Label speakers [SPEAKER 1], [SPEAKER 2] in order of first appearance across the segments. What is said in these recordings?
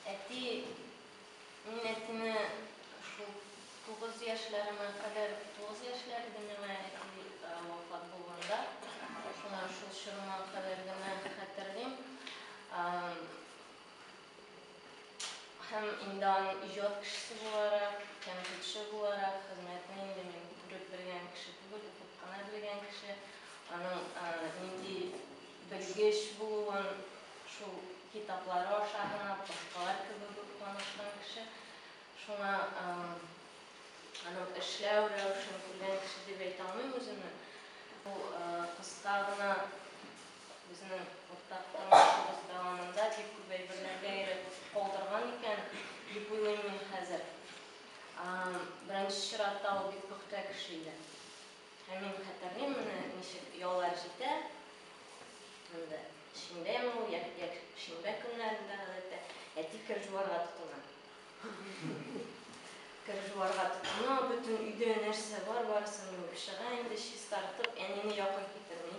[SPEAKER 1] Әти, мин әтине шул тугыз яшьләремә кадәр, тугыз яшьләр иде миңа әти вафат булганда, шуңа шул чорыма кадәр генә хәтерлим. Һәм инде аның иҗат кешесе буларак, тәнкыйтьче буларак хезмәтен инде мин күреп белгән кеше түгел, укып кына белгән кеше. Аның нинди белгеч булуын шул китаплары аша гына, башкалар кебек үк танышкан кеше. Шуңа аның эшләү рәвешен күргән кеше дип әйтә алмыйм үземне. Бу кыска гына безнең уртак тормышыбыз дәвамында бик күп әйберләргә әйрәтеп калдырган икән дип уйлыйм мин хәзер. Беренче чиратта ул бик пөхтә кеше иде. Ә мин хәтерлим менә ничек яллар җитә, инде шимбәме ул, йә якшимбә көннәрендә гадәттә әти кер җуарга тотына. Кер җуарга тотына, бөтен өйдә нәрсә бар, барысын юып чыга, инде чистартып, әнине якын китерми.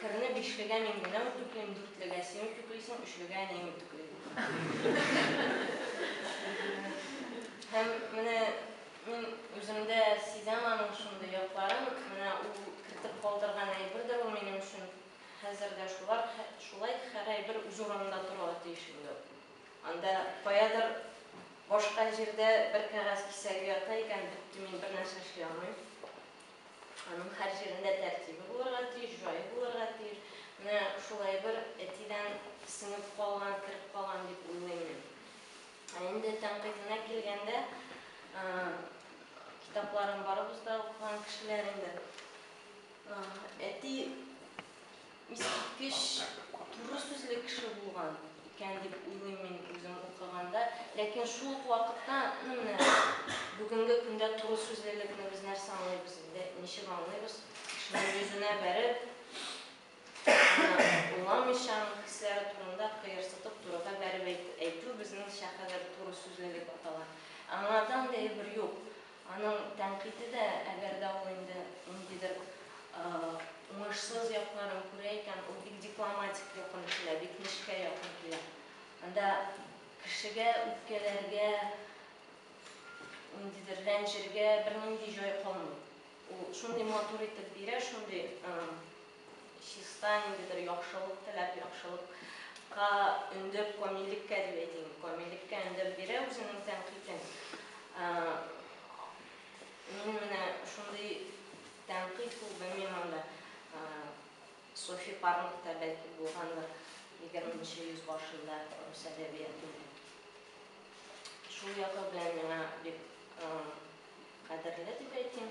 [SPEAKER 1] Керне бишлегә мин генә үтүклим, дүртлегә син үтүклисең, өчлегә әнием үтүкли. Һәм менә мин үземдә сизәм аның шундый якларын, менә ул кертеп калдырган әйбердер ул минем өчен хәзер дә шулар, шулай һәр әйбер үз урынында торырга тиеш инде ул. Анда каядыр башка җирдә бер кәгазь кисәге ята икән, бетте, мин бернәрсә эшли алмыйм. Аның һәр җирендә тәртибе булырга тиеш, җае булырга тиеш. Менә шулай бер әтидән сеңеп калган, кереп калган дип уйлыйм мин. Ә инде тәнкыйтенә килгәндә, китапларын барыбыз да укыган кешеләр инде. Әти. Искиткеч туры сүзле кеше булган икән дип уйлыйм мин үзем укыганда. Ләкин шул ук вакытта, ну менә бүгенге көндә туры сүзлелекне без нәрсә аңлыйбыз инде, ничек аңлыйбыз? Кешенең йөзенә бәреп, аны уйламыйча, аның хисләре турында кыерсытып, турыга бәреп әйтү безнеңчә хәзер туры сүзлелек атала. Аңардан да әйбер юк. Аның тәнкыйте дә, әгәр дә ул инде ниндидер уңышсыз якларын күрә икән, ул бик дипломатик якын килә, бик нечкә якын килә. Анда кешегә үпкәләргә, ниндидер рәнҗергә бернинди җай калмый. Ул шундый матур итеп бирә, шундый Чиста ниндидер яхшылык теләп, яхшылык ка өндәп, камиллеккә дип әйтим, камиллеккә өндәп бирә үзенең тәнкыйтен. Мин менә шундый тәнкыйть ул, белмим анда Софи Парнг та бәлки булгандыр егерме нче йөз башында рус әдәбиятында. Шул ягы белән миңа бик кадерле дип әйтим.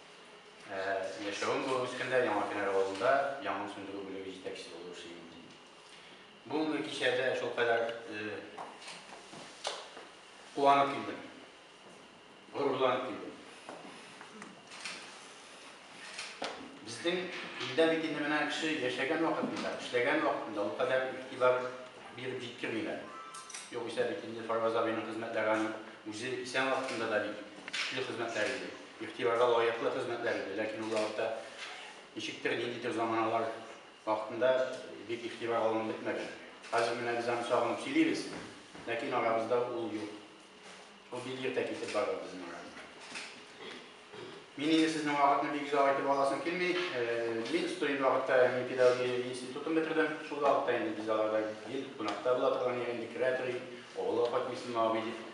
[SPEAKER 2] Ә, яшәвем булып үскәндә Яңа Финар авылында янгын сүндерү бүлеге җитәкчесе булып эшли идем, ди. Бүгенге кичәдә шулкадәр э, куанып килдем. Горурланып килдем. Безнең илдә бит инде менә кеше яшәгән вакытында, эшләгән вакытында ул кадәр игътибар биреп җиткермиләр. Югыйсә бит инде Фарваз абыйның хезмәтләре аның үзе исән вакытында да бит көчле хезмәтләр иде. Игътибарга лаеклы хезмәтләр иде, ләкин ул вакытта ничектер, ниндидер заманалар вакытында бик игътибар алынып бетмәгән. Хәзер менә без аны сагынып сөйлибез, ләкин арабызда ул юк. Ул бик иртә китеп барды безнең арабыздан. Мин инде сезнең вакытны бик озак итеп аласым килми. Мин студент вакытта мин педагогия институтын бетердем. Шул вакытта инде без аларда гел кунакта була торган идек, керә торыйк, авылга кайтмыйсыңмы, абый дип.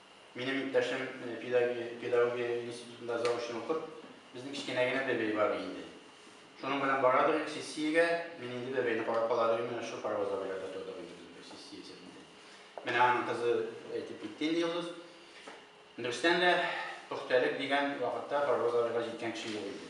[SPEAKER 2] Минем иптәшем педагогия институтында заочно укып, безнең кечкенә генә бәбәй бар инде. Шуның белән барадыр идек сессиягә, мин инде бәбәйне карап калар идем, менә шушы паровоз авылларда тордык инде без бер сессия исәбендә. Менә аның кызы әйтеп китте инде Йолдыз. Дөрестән дә, пөхтәлек дигән вакытта паровоз авылга җиткән кеше юк иде.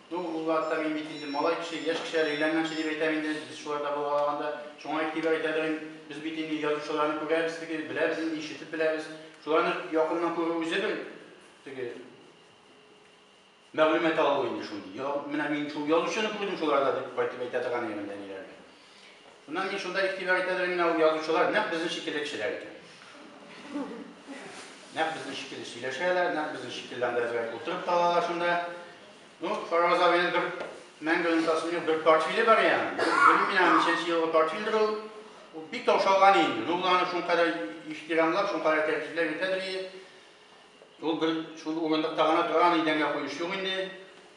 [SPEAKER 2] Ну, улларда мин бит инде малай кеше, яшь кешеләр өйләнгәнче дип әйтәм инде, без шуларда булгалаганда. Шуңа игътибар итәдер, без бит инде язучыларны күрәбез теге, беләбез инде, ишетеп беләбез. Шуларны якыннан күрү үзе бер теге мәгълүмат алу инде шундый. Менә мин шул язучыны күрдем шуларда дип кайтып әйтә торган идем әниләргә. Шуннан мин шунда игътибар итә дә менә ул язучылар нәкъ безнең шикелле кешеләр икән. Нәкъ безнең шикелле сөйләшәләр, нәкъ безнең шикелле анда әзрәк утырып калалар шунда. Ну, Фараз абыйның бер мәңге онытасым юк, бер портфеле бар я. Белмим мин аны ничәнче елгы портфельдер ул. Ул бик таушалган инде. Ну, ул аны шункадәр ихтирамлап, шункадәр тәртипләп ятадыр и. Ул бер шул урындыкта гына тора, аны идәнгә куеш юк инде.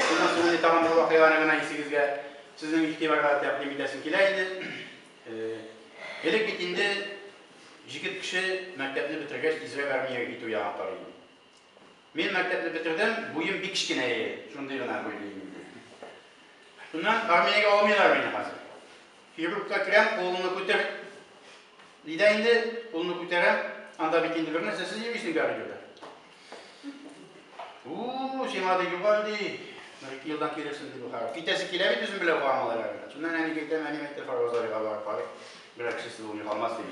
[SPEAKER 2] Шуннан соң тагын бер вакыйганы гына исегезгә сезнең игътибарга тәкъдим итәсем килә иде. Элек бит инде җигет кеше мәктәпне бетергәч тизрәк армиягә китү ягын карый иде. Мин мәктәпне бетердем, буем бик кечкенә иде, шундый гына буйлы идем. Шуннан армиягә алмыйлар мине хәзер. Хирургка керәм, кулымны күтәр. Нидә инде кулымны күтәрәм, анда бит инде бер нәрсә сез йөрисең бәрі дигән. У, сиңа ди югал ди. Менә ике елдан килерсең ди бу хәл. Китәсе килә бит үзем белән гамалар әле. Шуннан әни әйтәм, әни әйтә фарвазарга барып карый. Берәр кеше сылу ни калмас ди.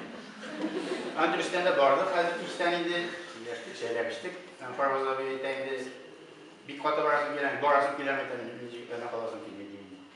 [SPEAKER 2] Анда өстәндә барды хәзер кичтән инде. Яшьтек, шәйләп эчтек. Фарвазарга әйтә инде. Бик каты барасың килә, барасың килә әйтә инде. Җигетләрне каласың килми ди.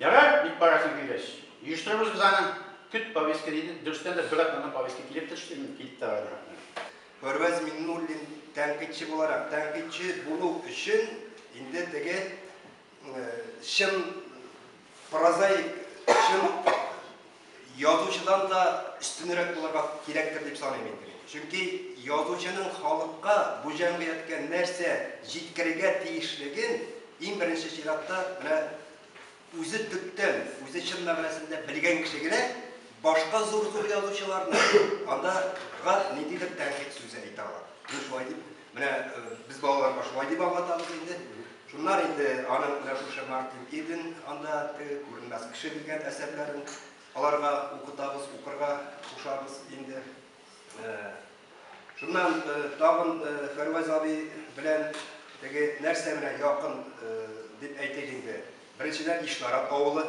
[SPEAKER 2] Ярар, бик барасың килгәч. Оештырабыз без аны. Көт, повестка диде. Дөрестән дә, бер атнадан повестка килеп төште. Мин килеп тә бардым Әхмәт. Фәрваз
[SPEAKER 3] Миңнуллин тәнкыйтьче буларак, тәнкыйтьче булу өчен инде теге чын прозаик, чын язучыдан да өстенрәк булырга кирәктер дип саныйм инде мин. Чөнки язучының халыкка, бу җәмгыятькә нәрсә җиткерергә тиешлеген иң беренче чиратта менә үзе төптән, үзе чын мәгънәсендә белгән кеше генә башка зур-зур язучыларны анда гад ниндидер тәнкыйть сүзе әйтә ала. Мин шулай дип Менә без балаларга шулай дип аңлатабыз инде. Шуннан инде аның менә шушы Мартин Иден анда теге күренмәс кеше дигән әсәрләрен аларга укытабыз, укырга кушабыз инде. Шуннан тагын Фәрвәз абый белән теге нәрсә менә якын дип әйтик инде. Беренчедән Ишнарат авылы.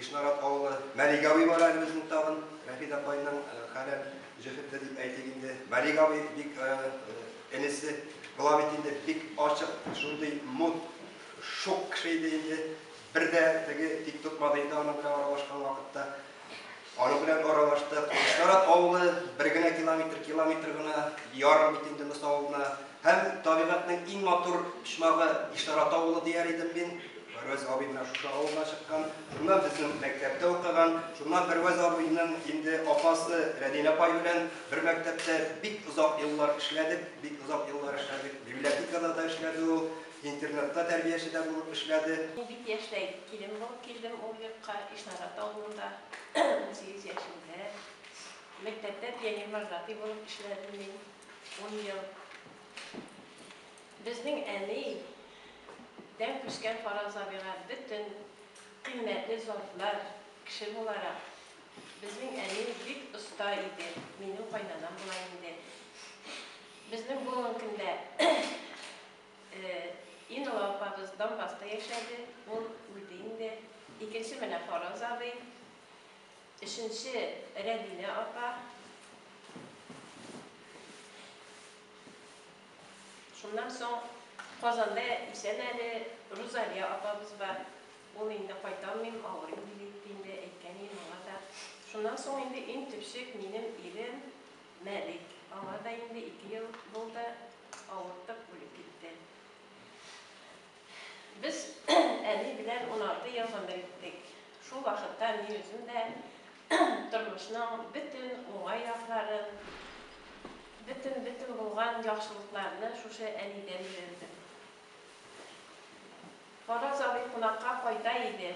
[SPEAKER 3] Ишнарат авылы Мәлик абый бар әле безнең тагын, Рәфит апайның хәләл җефете дип әйтик инде. Мәлик абый бик энесе була бит инде, бик ачык, шундый мут, шук кеше иде инде. Бер дә теге тик тотмады инде аның белән аралашкан вакытта. Аның белән аралаштык. Ишнарат авылы бер генә километр, километр гына ярым бит инде Мыс авылына. Һәм табигатьнең иң матур почмагы Ишнарат авылы дияр идем мин. Бервәз абый менә шушы авылдан чыккан, шуннан безнең мәктәптә укыган, шуннан Бервәз абыйның инде апасы Рәдинә апай белән бер мәктәптә бик озак еллар эшләдек, бик озак еллар эшләдек, библиотекада да эшләде ул, интернатта тәрбияче дә булып эшләде. Мин бик яшьтәй
[SPEAKER 4] килен булып килдем ул йортка, Ишнарат авылында, унсигез яшемдә. Мәктәптә пионервожатый булып эшләдем мин ун ел. Безнең әни дән күчкән Фараз абыйга бөтен кыйммәтле затлар, кеше буларак, безнең әни бик оста иде, минем кайнанам була инде. Безнең буын көндә ин олы апабыз Донбасста яшәде, ул үлде инде. Икенче менә Фараз абый, өченче Рәбинә апа. Шуннан соң Казанда исән әле Рузалия апабыз бар. Ул инде кайталмыйм, авырыйм диде дип инде әйткән идем аңа да. Шуннан соң инде иң төпчек минем ирем Мәлик. Аңа да инде ике ел булды, авыртып үлеп китте. Без әни белән уналты ел гомер иттек. Шул вакытта мин үзем дә тормышның бөтен уңай якларын, бөтен-бөтен булган яхшылыкларны шушы әнидән өйрәндем. Фараз абый кунакка кайта иде.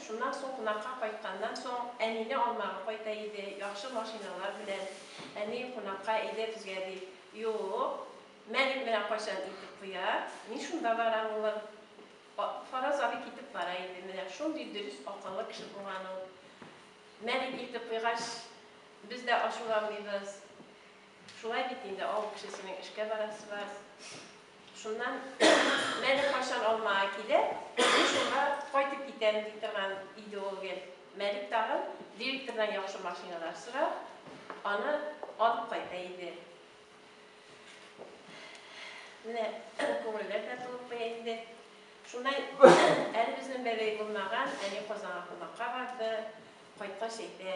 [SPEAKER 4] Шуннан соң кунакка кайтканнан соң, әнине алмага кайта иде, яхшы машиналар белән. Әни, кунакка әйдә безгә, дип. Юк. Мәлик менә кайчан итеп куя, мин шунда барам, улым. Фараз абый китеп бара иде, менә шундый дөрес, акыллы кеше булган ул. Мәлик илтеп куйгач, без дә ачуланмыйбыз. Шулай бит инде, авыл кешесенең эшкә барасы бар. Шуннан Мәлик кайчан Алмага килә, мин шунда кайтып китәм, ди торган иде ул гел. Мәлик тагын директордан яхшы машиналар сорап, аны алып кайта иде. Менә күңелләр дә тулып куя инде. Шунда әле безнең бәбәй булмаган, әни Казанга кунакка барды. Кайткач әйтә,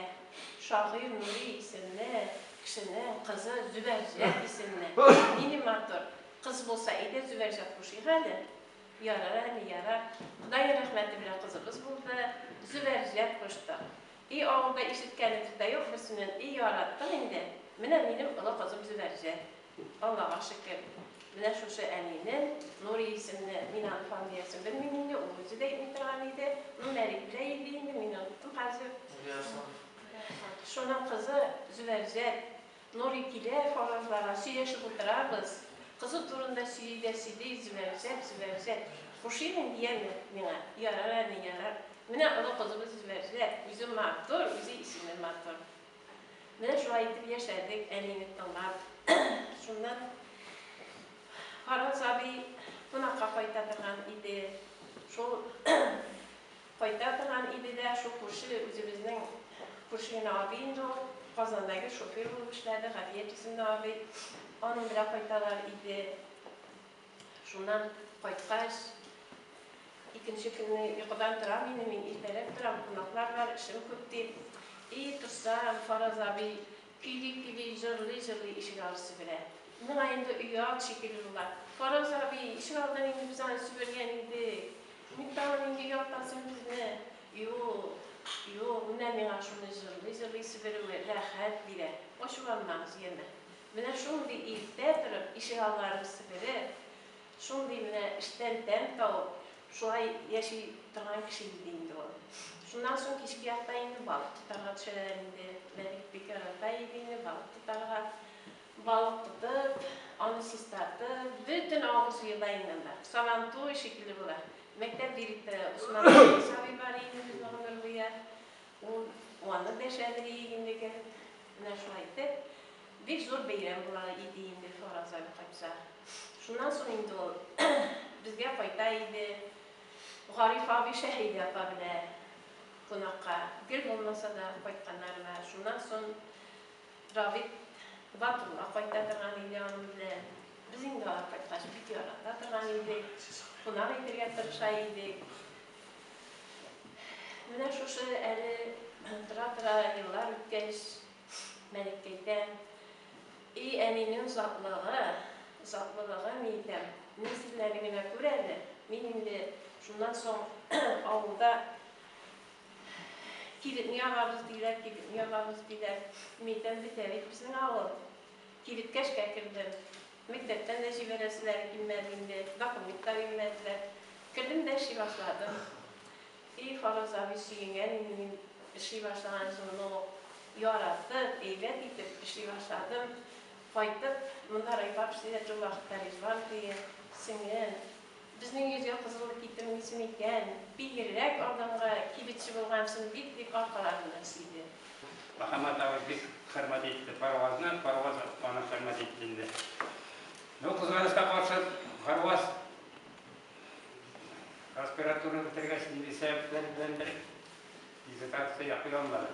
[SPEAKER 4] шагыйрь Нури исемле кешенең кызы Зөбәрҗәт исемле, нинди матур кыз булса иде, Зөбәрҗәт кушыйк әле. Ярар, әни, ярар. Ходай рәхмәте белән кызыбыз булды, Зөбәрҗәт куштык. И авылда ишеткәнем дә юк берсеннән И яраттың инде Менә минем олы кызым Зөбәрҗә Аллага шөкер Менә шушы әнине Нури исемле Мин аны фамилиясен белмим инде Ул үзе дә әйтми торган иде Ну Мәрик белә иде инде Мин оныттым хәзер Шуның кызы Зөбәрҗәт Нурый килә фаразларга, сөйләшеп утырабыз. Кызы турында сөйли дә сөйли, Зөбәрзәт, Зөбәрзәт. Пошимин дияме миңа? Ярар әни, ярар. Менә олы кызыбыз Зөбәрзәт, үзе матур, үзе исеме матур. Менә шулай итеп яшәдек, әнине тыңлап. Шуннан Фараз абый кунакка кайта торган иде. Шул Кайта торган иде дә, шул күрше, үзебезнең күрше генә абый инде ул, Казандагы шофер булып эшләде, Гафият исемле абый, аның белән кайталар иде. Шуннан кайткач, икенче көнне йокыдан торам инде мин, иртәрәк торам, кунаклар бар, эшем күп дип. И, торсам, Фараз абый, Көйли-көйли, җырлый-җырлый ишек алды себерә. Моңа инде оят шикелле була. Фараз абый, ишек алдын инде без аны себергән идек. Ник тагын инде яктансың безне? Юк, юк, менә миңа шуны җырлый-җырлый себерүе рәхәт бирә. Ачуланмагыз, яме. Менә шундый иртә торып ишек алларын себереп, Шундый менә эштән тәм табып, шулай яши торган кеше иде инде ул. Шуннан соң кичке якта инде балык тотарга төшәләр иде. Мәлик бик ярата иде инде балык тотарга. Балык тотып, аны чистартып, бөтен авыл суе да инде анда. Сабантуй шикелле була. Мәктәп директоры Усман Исәгыймов абый бар иде инде безнең гомер буе. Ул аны дәшә, дириек инде, кереп. Менә шулай итеп, бик зур бәйрәм була иде инде Фараз абый кайтса. Шуннан соң инде ул безгә кайта иде. Гариф абый, Шәһидә апа белән кунакка, гел булмаса да, кайтканнарына. Шуннан соң Равит Батулла кайта торган иде аның белән. Без инде алар кайткач бик ярата торган идек, кунак итәргә тырыша идек. Менә шушы әле тора-тора еллар үткәч, Мәликкә әйтәм, И әнинең затлыгы, затлылыгы, миикәм, мин сезләрне генә күр әле, мин инде шуннан соң авылда кибетне ябабыз диләр, кибетне ябабыз диләр, миикәм, бетә бит безнең авыл. Кибеткә эшкә кердем. Мәктәптән дә җибәрәселәре килмәде инде, документ та бирмәделәр. Кердем дә эшли башладым. И Фараз абый, сөенгән инде мин эшли башлаган җылыны ук. Яратып, әйбәт итеп эшли башладым. Кайтып, монда райпапшният ул вакытта Ризван туе, сеңлем. Безнең йөзгә кызыл китем исем иткән, бигрәк алданга кибетче булгансың бит, дип аркаларыннан сөйде. Мөхәммәт
[SPEAKER 5] абый бик хөрмәт итте Парвазны, Парваз аны хөрмәт итте инде. Бу кызганыска каршы, Парваз аспирантураны бетергәч, нинди сәбәпләр беләндер диссертация яклый алмады.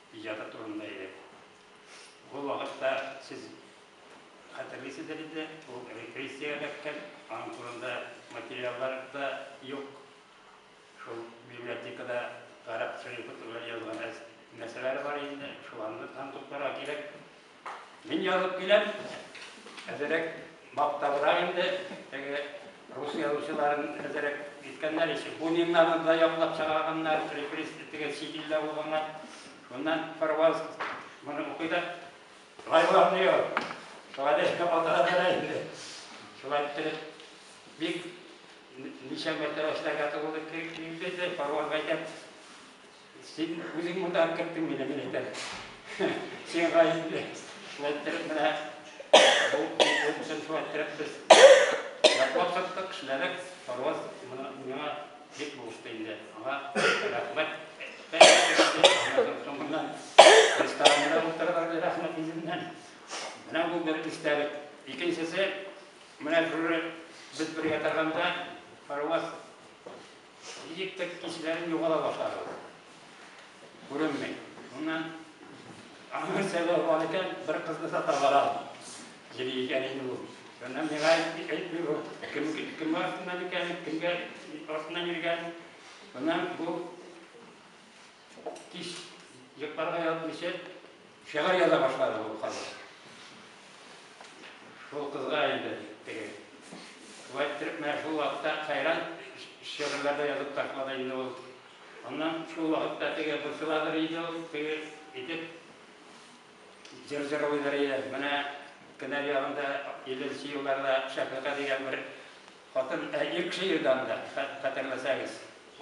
[SPEAKER 5] иҗаты турында иде. Ул вакытта, сез хәтерлисездер инде, ул репрессиягә эләккән, аның турында материаллар да юк. Шул библиотекада гарәп шәрифе турында язган нәрсәләре бар инде, шуларны танытып торырга кирәк. Мин язып киләм, әзерәк мактабрак инде, теге рус язучыларын әзерәк иткәннәр ише. Буниннарны да яклап чыгарганнар, репресс теге чит илдә булганнар. Шуннан Парваз моны укый да, Лайла Нью, шулай да атарадара инде. Шулай иттереп, бик ничә мәртәбә эшләргә туры килде, Парваз әйтә, Син үзең монда керттең мине, мин әйтәм. Син гаепле. Шулай иттереп менә бу курсын шулай иттереп без яклап тоттык, эшләдек. Парваз моны миңа бик булышты инде. Аңа рәхмәт. Соңыннан ресторанында утырдык, рәхмәт үзеннән. Менә бу бер истәлек. Икенчесе, менә шуны без бергә торганда Парваз Электр кичүләрен югала башладык. Күренми. Моннан аңа сәбәп бар икән, бер кызны сата бара. Җири икән инде бу. Шуннан миңа әйтми бу. Кем кем артыннан икән, кемгә артыннан йөргән. Моннан бу Кич йокларга ятмыйча шигырь яза башлады бу кыз. Шул кызга инде теге. Шулай иттереп, менә шул вакытта Кайран шигырьләр дә язып ташлады инде ул. Аннан шул вакытта теге борчыладыр иде ул, теге итеп җыр җырлыйдыр иде. Менә Кенәр ягында 50 нче елларда Шәфыйка дигән бер Хатын ә ир кеше ирдан да хәтерләсәгез,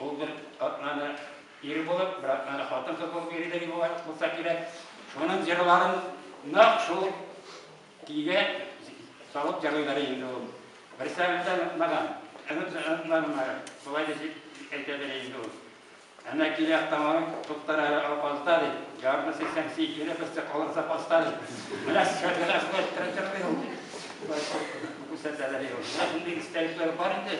[SPEAKER 5] ул бер атнаны ир булып, бер атнаны хатын кыз булып йөридер иде бугай, булса кирәк. Шуның җырларын нәкъ шул көйгә салып җырлыйлар инде ул. Берсәгыйтьтән онытмаган, онытмаган, шулай дип әйтәдер инде ул. Әнә килә автомобиль, туктар әле Алпазда, ди. Ярты сиксән син кире, берсе калыр запаста, ди. Менә шәһәргә шулай керә торгый ул. Күрсәтәләр ди ул. Менә шундый истәлекләр бар инде.